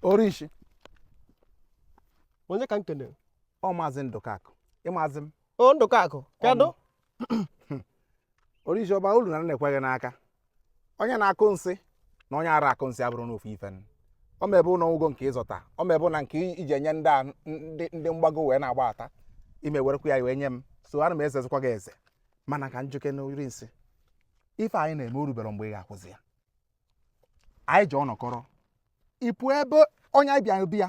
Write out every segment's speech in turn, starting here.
orishi onye ka m kenere ọ maazị ndụkakụ ị mazị m o ndụkakụ kedụ orishi ọba ulu na na-ekweghị n'aka onye na-akụ nsị na onye ara akụ nsị abụrụ nụ ofu ife ọ ma ebe ụlọ ụgwọ nke ịzọta ọ ma ebe na nke iji enye ndị a ndị ndị mgbago wee na-agbata ime werekwa ya wee nye m so ana m ezezikwa gị eze mana ka m jụkene ori nsị ife a ị na-eme orubere mgbe ị ga-akwụzi ya anyị ji ọnọkọrọ ịpụ ebe onye anyị bịara bịa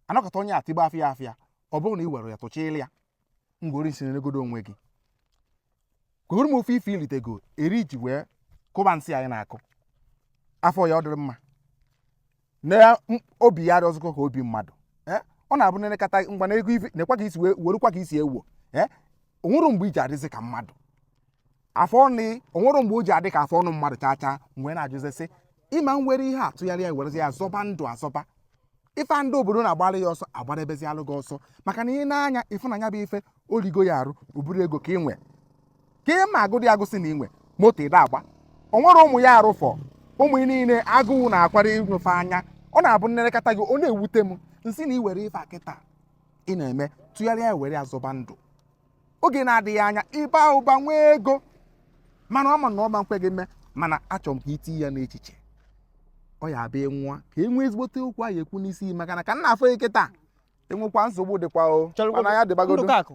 anọkata onye atịgba afịa afịa ọ bụrụ na ị were ya tụchịla ya ngwa orishi nenegodo onwe gị kwuru m ofu ife ilitego eri iji wee kụba nsị a ị na-akụ a fụ ya ọ dịrị mma na m- obi ya arọzikọ ka obi mmadụ Eh, ọ na-abụ m nenekata ngwa na ego ife nekwa ka isi wee werukwa ka isi ewo Eh, o nwere mgbe iji adịzi ka mmadụ afọ ọnụ o nwere mgbe o ji adị ka afọ ọnụ mmadụ chaa chaa m wee na-ajụzi sị ị ma were ihe a tụgharịa werezi ya zọba ndụ azọba ife a ndị obodo na-agbara ya ọsọ agbadebezialụ gị ọsọ maka na i nee anya ị fụ na nya bụ ife o rigo ya arụ ọ bụrọ ego ka ị nwe ka ị ma agụdị agụ sị na inwe moto ị na-agba o nwere ụmụ ya arụ fọ ụmụ ya niile agụụ na-akwara ịnwefe anya ọ na-abụ m nenekata gị ọ na-ewute m m sị na iwere ife a kịta ị na-eme tụgharịa ya were ya zọba ndụ oge na-adịghị anya ịba ụba nwee ego mana ọ ma na ọ ma nkwe gị mee mana achọrọ m ka itinye ya n'echiche ọ ya abịa nwa ka e nwee ezigbote okwu anyị ekwu n'isi maka na ka m na-afụ ị kịta inwekwa nsogbu dịkwa o mana ya dịbagodu ndụkakụ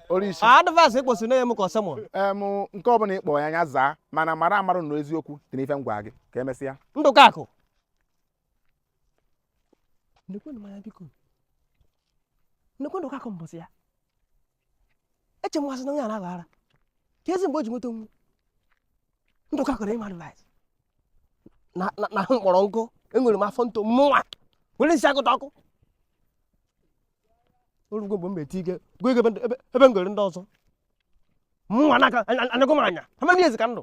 orisi advice ịkpọsi na-enye m ka ọ sermon nke ọbụla ịkpọ ya nya zaa mana mara marụ na eziokwu dị n'ife m gwa gị ka emesịa ndụkakụ ndekwe ndụkakụ mbọsị ya eche mmasị na onye ara aghara kezi mgbe o ji nweta onwe ndụkakụ ru inye m advice na ahụ mkpọrọ nkụ enwere m afọ nto mụnwa were isi agụta ọkụ orugwo mgbe m meti ike gụọ ego ebe m gere ndị ọzọ mụnwa na-aka anyagụ m anya how many years ka ndụ